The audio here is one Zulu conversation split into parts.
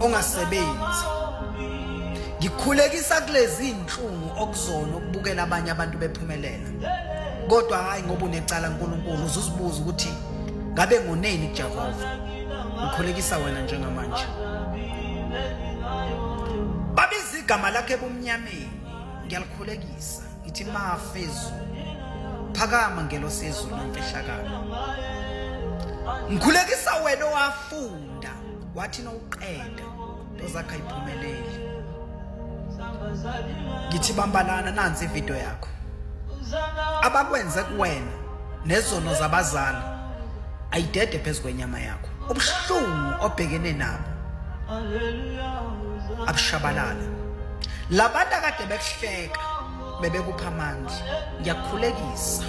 ongasebenzi ngikhulekisa kulezi inhlungu okuzona ukubukela abanye abantu bephumelela kodwa hayi ngoba unecala uNkulunkulu uzuzibuza ukuthi ngabe ngoneni kuJehova ngikhulekisa wena njengamanje babiza igama lakhe ebumnyameni ngiyalikhulekisa ngithi mafezulu phakama ngelosezulu nomfihlakalo ngikhulekisa wena owafuna da wathi nowuqeda tozakha iphumeleli ngithi bambalana nansi ividiyo yakho abakwenze kuwena nezono zabazali ayidede phezu kwenyama yakho ubuhlungu obhekene nabo abushabalala labantu akade bekuhleka bebekupha amandla ngiyakhulekisa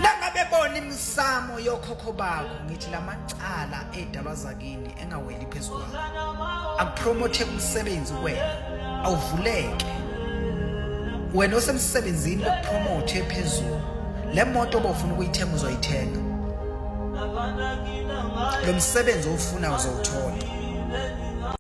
nangabe bona Samo yokhokho bako ngithi lamacala edalwa zakini engaweli phezulu akupromote umsebenzi kwena awuvuleke wena osemsebenzini lokupromote phezulu le moto obofuna ukuyithenga uzoyithenga lo msebenzi owufunayo uzowuthola